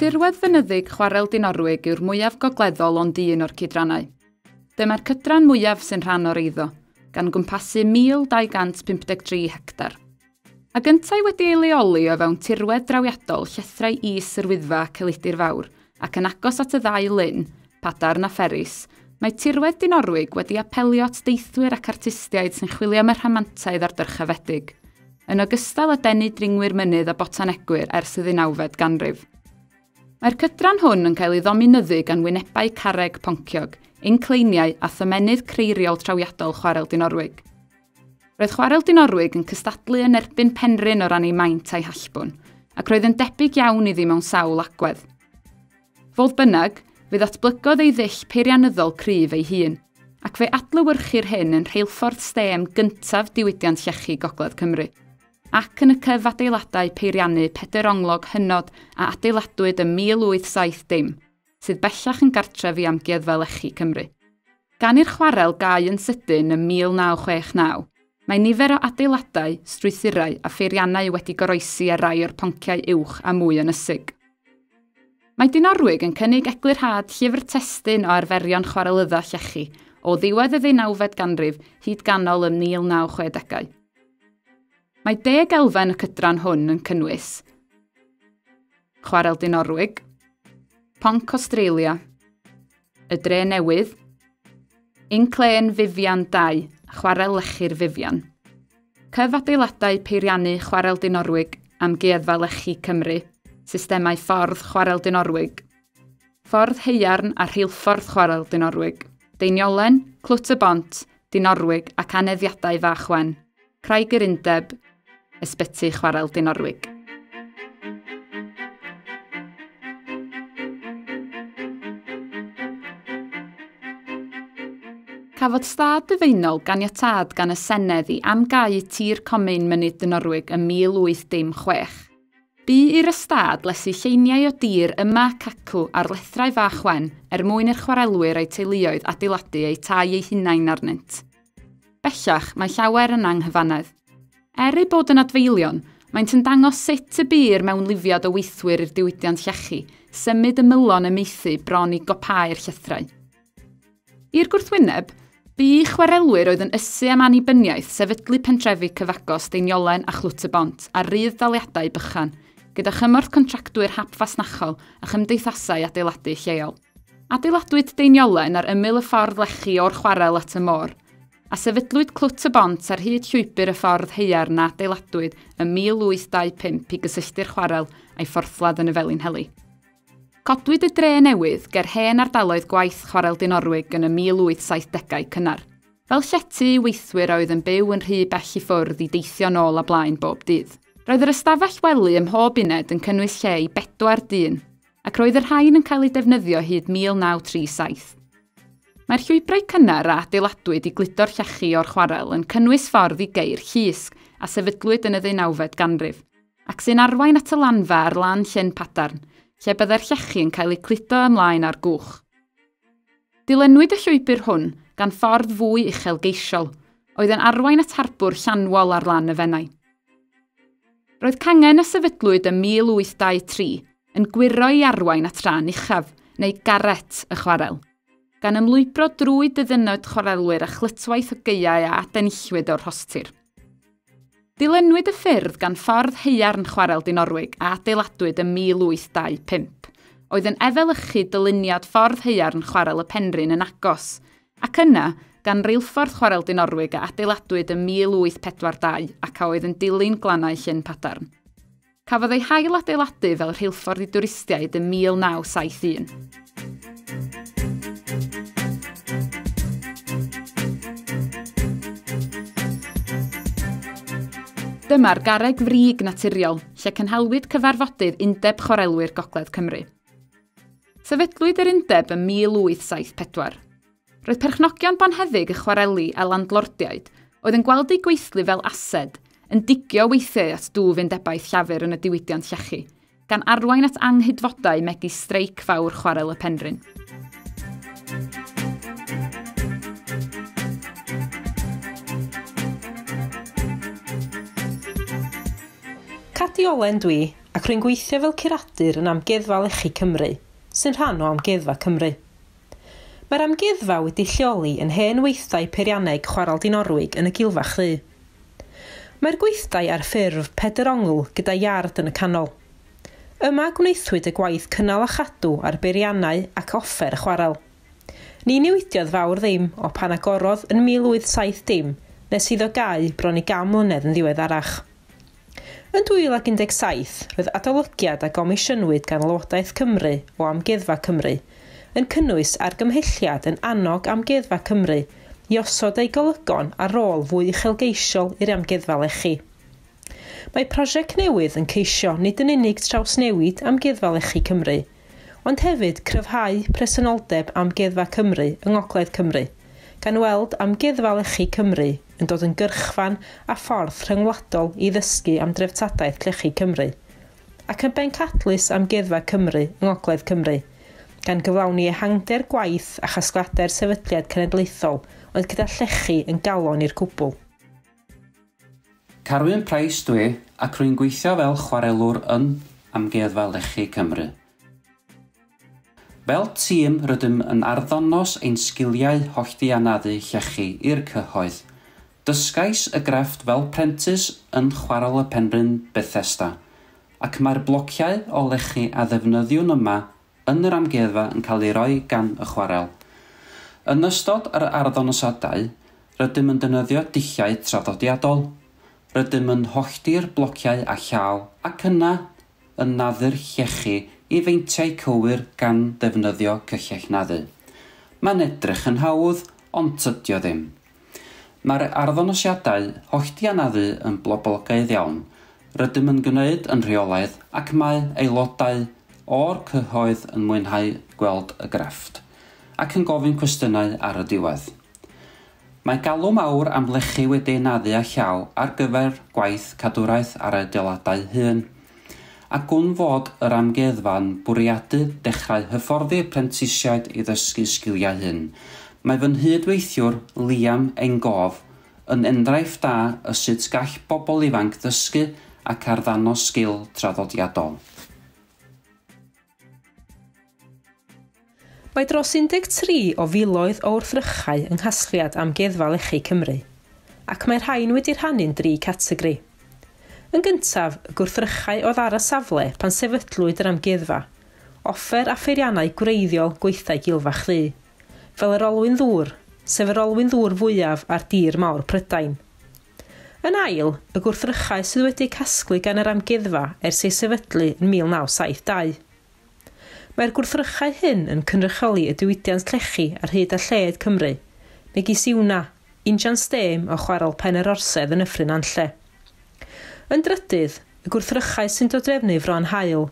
Tirwedd fynyddig chwarel Dinorwig yw'r mwyaf gogleddol ond un o'r cydrannau. Dyma'r cydran mwyaf sy'n rhan o'r eiddo, gan gwmpasu 1,253 hectar. Ac yntau wedi ei leoli o fewn tirwedd drawiadol llethrau is yr Wyddfa Celidr Fawr ac yn agos at y ddau lyn, Padarn a Pheris, mae tirwedd Dinorwig wedi apelio at deithwyr ac artistiaid sy'n chwilio am y rhamantaidd a'r dyrchafedig, yn ogystal â denu dringwyr mynydd a botanegwyr ers y ddeunawfed ganrif. Mae'r cydran hwn yn cael ei ddominyddu gan wynebau carreg ponciog, incleiniau a thomennydd creiriol trawiadol Chwarel Dinorwig. Roedd chwarel Dinorwig yn cystadlu yn erbyn Penrhyn o ran ei maint a'i hallbwn, ac roedd yn debyg iawn iddi mewn sawl agwedd. Fodd bynnag, fe ddatblygodd ei ddull peirianyddol cryf ei hun, ac fe adlywyrchir hyn yn rheilffordd stêm gyntaf diwydiant llechi Gogledd Cymru, ac yn y cyfadeiladau peiriannu pedr onglog hynod a adeiladwyd ym 1870. sydd bellach yn gartref i Amgueddfa Lechi Cymru. Gan i'r chwarel gau yn sydyn ym 1969, mae nifer o adeiladau, strwythurau a pheiriannau wedi goroesi ar rai o'r ponciau uwch a mwy ynysig. Mae Dinorwig yn cynnig eglurhad llyfr testun o arferion chwarelydda llechi o ddiwedd y ddeunawfed ganrif hyd ganol y 1960au. Mae deg elfen y cydran hwn yn cynnwys Chwarel Dinorwig, Ponc Australia, Y Dre Newydd, Inclên Fifian 2, Chwarel Lechi'r Fifian. Cyf adeiladau peiriannu Chwarel Dinorwig, Amgueddfa Lechi Cymru, systemau ffordd Chwarel Dinorwig, ffordd heiarn a rheilffordd Chwarel Dinorwig, Deiniolen, Clwt y Bont, Dinorwig ac aneddiadau Fach Wen. Craig yr Undeb, Ysbyty Chwarel Dinorwig. Cafodd stad byfeinol ganiatad gan y Senedd i amgau tir comin Mynydd Dynorwig ym 1816. Bu i'r ystâd lesu lleiniau o dir yma ac acw ar lethrau fach wen er mwyn i'r chwarelwyr a'i teuluoedd adeiladu eu tai eu hunain arnynt. Bellach, mae llawer yn anghyfannedd. Er eu bod yn adfeilion, maent yn dangos sut y bu'r mewnlifiad o weithwyr i'r diwydiant llechi symud ymylon y maethu bron i gopâu'r llythrau. I'r gwrthwyneb, bu i chwarelwyr oedd yn ysu am annibyniaeth sefydlu pentrefi cyfagos Deiniolen a Chlwt-y-bont ar rudd-daliadau bychan, gyda chymorth contractwyr hap fasnachol a chymdeithasau adeiladu lleol. Adeiladwyd deiniolen ar ymyl y ffordd lechi o'r chwarel at y môr, a sefydlwyd Clwt y Bont ar hyd llwybr y ffordd haearn a adeiladwyd ym 1825 i gysylltu'r chwarel a'i phorthladd yn y Felinheli. Codwyd y dre newydd ger hen ardaloedd gwaith Chwarel Dinorwig yn y 1870au cynnar, fel llety i weithwyr a oedd yn byw yn rhy bell i ffwrdd i deithio nôl a blaen bob dydd. Roedd yr ystafell wely ym mhob uned yn cynnwys lle i bedwar dyn, ac roedd y rhain yn cael eu defnyddio hyd 1937. Mae'r llwybrau cynnar a adeiladwyd i gludo'r llechi o'r chwarel yn cynnwys ffordd i geu'r llusg a sefydlwyd yn y ddeunawfed ganrif, ac sy'n arwain at y lanfa ar lan Llyn Padarn, lle byddai'r llechi yn cael eu cludo ymlaen â'r gwch. Dilynwyd y llwybr hwn gan ffordd fwy uchelgeisiol, oedd yn arwain at harbwr Llanwol ar lan y Fenai. Roedd cangen a sefydlwyd ym 1823 yn gwyro i arwain at ran uchaf, neu garret, y chwarel, gan ymlwybro drwy dyddynod chwarelwyr a chlytwaith o gaeau a adenillwyd o'r rhostir. Dilynwyd y ffyrdd gan ffordd haearn Chwarel Dinorwig a adeiladwyd ym 1825. Oedd yn efelychu dyluniad ffordd haearn Chwarel y Penrhyn yn agos, ac yna, gan reilffordd Chwarel Dinorwig a adeiladwyd ym 1842 ac a oedd yn dilyn glannau Llyn Padarn. Cafodd ei hailadeiladu fel rheilffordd i dwristiaid ym 1971. Dyma'r garreg frig naturiol lle cynhalwyd cyfarfodydd Undeb Chwarelwyr Gogledd Cymru. Sefydlwyd yr undeb ym 1874. Roedd perchnogion bonheddig y chwareli a landlordiaid, oedd yn gweld eu gweithlu fel ased, yn digio weithiau at dwf undebaeth llafur yn y diwydiant llechi, gan arwain at anghydfodau megis streic fawr chwarel y Penrhyn. Cadi Olen dwi, ac rwy'n gweithio fel curadur yn Amgueddfa Lechi Cymru, sy'n rhan o Amgueddfa Cymru. Mae'r amgueddfa wedi lleoli yn hen weithdai peirianneg chwarel Dinorwig yn y Gilfach Ddu. Mae'r gweithdai ar ffurf pedr ongl gyda iard yn y canol. Yma gwnaethwyd y gwaith cynnal a chadw ar beiriannau ac offer y chwarel. Ni newidiodd fawr ddim o pan agorodd yn 1870 nes iddo gau bron i gan mlynedd yn ddiweddarach. Yn 2017, roedd adolygiad a gomisiynwyd gan Lywodraeth Cymru o Amgueddfa Cymru, yn cynnwys argymhelliad yn annog Amgueddfa Cymru i osod eu golygon a rôl fwy uchelgeisiol i'r amgueddfa lechi. Mae prosiect newydd yn ceisio nid yn unig trawsnewid Amgueddfa Lechi Cymru, ond hefyd cryfhau presenoldeb Amgueddfa Cymru yng Ngogledd Cymru, gan weld Amgueddfa Lechi Cymru yn dod yn gyrchfan a ffordd rhyngwladol i ddysgu am dreftadaeth llechi Cymru, ac yn bencadlys Amgueddfa Cymru yng Ngogledd Cymru, gan gyflawni ehangder gwaith a chasgliadau'r Sefydliad Cenedlaethol oedd gyda llechi yn galon i'r cwbl. Carwyn Price dwi, ac rwy'n gweithio fel chwarelwr yn Amgueddfa Lechi Cymru. Fel tîm rydym yn arddangos ein sgiliau holltianaddu llechi i'r cyhoedd. Dysgais y grefft fel prentis yn Chwarel y Penrhyn, Bethesda, ac mae'r blociau o lechi a ddefnyddiwn yma yn yr amgueddfa yn cael eu rhoi gan y chwarel. Yn ystod yr arddangosiadau, rydym yn defnyddio dulliau traddodiadol. Rydym yn hollti'r blociau â llaw ac yna yn naddu'r llechi i feintiau cywir gan ddefnyddio cyllell naddu. Mae'n edrych yn hawdd, ond tydi o ddim. Mae'r arddonosiadau hollti a naddu yn bloblogaidd iawn, rydym yn gwneud yn rheolaidd ac mae aelodau o'r cyhoedd yn mwynhau gweld y grefft, ac yn gofyn cwestiynau ar y diwedd. Mae galw mawr am lechi wedi ei naddu â llaw ar gyfer gwaith cadwraeth ar y adeiladau hŷn. A gwn fod yr amgueddfa'n bwriadu dechrau hyfforddi prentisiaid i ddysgu sgiliau hŷn, mae fy nghyd-weithiwr, Liam Enghof, yn enghraifft da o sut gall bobl ifanc ddysgu ac arddanos sgil traddodiadol. Mae dros 13 o filoedd o wrthrychau yng nghasgliad Amgueddfa Lechi Cymru, ac mae'r rhain wedi rhannu'n dri categori. Yn gyntaf, y gwrthrychau oedd ar y safle pan sefydlwyd yr amgueddfa, offer a pheiriannau gwreiddiol gweithdai Gilfach Ddu, fel yr olwyn ddŵr, sef yr olwyn ddŵr fwyaf ar dir mawr Prydain. Yn ail, y gwrthrychau sydd wedi eu casglu gan yr Amgueddfa ers ei sefydlu yn 1972. Mae'r gwrthrychau hyn yn cynrychioli y diwydiant llechi ar hyd a lled Cymru, megis Iwna, injan stêm o chwarel Pen yr Orsedd yn Nyffryn Nantlle. Yn drydydd, y gwrthrychau sy'n dodrefnu Fron Hael,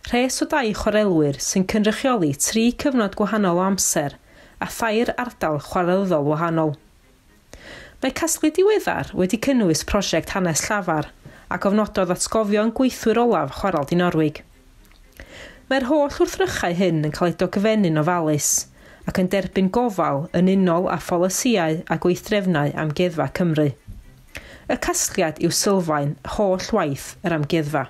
rhes o dai chwarelwyr sy'n cynrychioli tri cyfnod gwahanol o amser a thair ardal chwarelyddol wahanol. Mae casglu diweddar wedi cynnwys prosiect Hanes Llafar a gofnododd atgofion gweithwyr olaf Chwarel Dinorwig. Mae'r holl wrthrychau hyn yn cael eu dogfennu'n ofalus ac yn derbyn gofal yn unol â pholisïau a gweithdrefnau Amgueddfa Cymru. Y casgliad yw sylfaen holl waith yr Amgueddfa.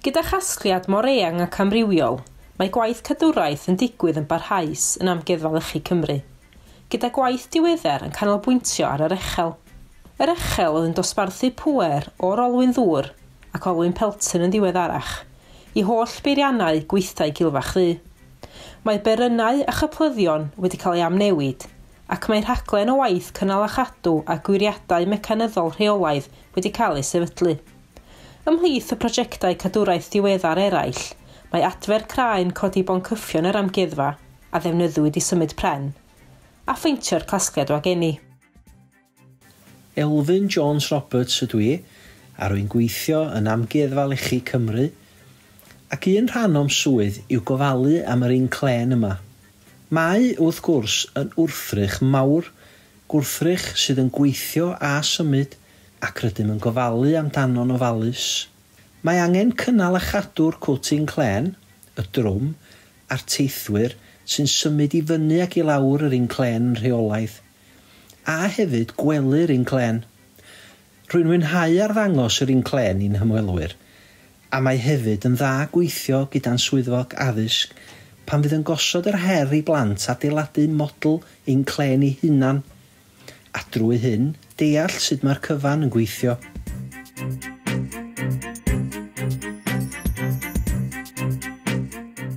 Gyda chasgliad mor eang ac amrywiol, mae gwaith cadwraeth yn digwydd yn barhaus yn Amgueddfa Lechi Cymru, gyda gwaith diweddar yn canolbwyntio ar yr Echel. Yr Echel oedd yn dosbarthu pŵer o'r olwyn ddŵr ac olwyn peltyn yn ddiweddarach i holl beiriannau gweithdai Gilfach Ddu. Mae berynnau a chyplyddion wedi cael eu amnewid ac mae rhaglen o waith cynnal a chadw a gwiriadau mecanyddol rheolaidd wedi cael eu sefydlu. Ymhlith y projectau cadwraeth diweddar eraill, mae adfer craen codi boncyffion yr Amgueddfa, a ddefnyddiwyd i symud pren, a pheintio'r casgliad wagenni. Elfyn Jones Roberts ydw i, a rwy'n gweithio yn Amgueddfa Lechi Cymru, ac un rhan o'm swydd yw gofalu am yr inclên yma. Mae, wrth gwrs, yn wrthrych mawr, gwrthrych sydd yn gweithio a symud, ac rydym yn gofalu amdano'n ofalus. Mae angen cynnal a chadw'r cwtyn clên, y drwm, a'r teithwyr sy'n symud i fyny ac i lawr yr un clên yn rheolaidd, a hefyd gwelu'r un clên. Rwy'n mwynhau arddangos yr un clên i'n hymwelwyr, a mae hefyd yn dda gweithio gyda'n swyddog addysg pan fydd yn gosod yr her i blant adeiladu model ein clên eu hunain a drwy hyn, deall sut mae'r cyfan yn gweithio.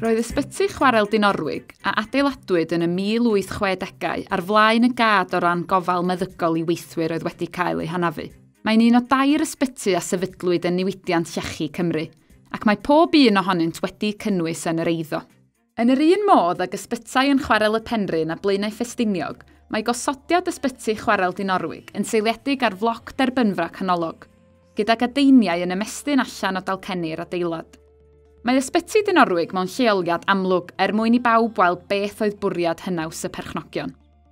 Roedd Ysbyty Chwarel Dinorwig, a adeiladwyd yn y 1860au, ar flaen y gad o ran gofal meddygol i weithwyr oedd wedi cael eu hanafu. Mae'n un o dair ysbyty a sefydlwyd yn Niwydiant Llechi Cymru, ac mae pob un ohonynt wedi cynnwys yn yr eiddo. Yn yr un modd ag ysbytai yn Chwarel y Penrhyn a Blaenau Ffestiniog, mae gosodiad Ysbyty Chwarel Dinorwig yn seiliedig ar floc derbynfra canolog, gydag adeiniau yn ymestyn allan o dalcenni'r adeilad. Mae Ysbyty Dinorwig mewn lleoliad amlwg er mwyn i bawb weld beth oedd bwriad hynaws y perchnogion.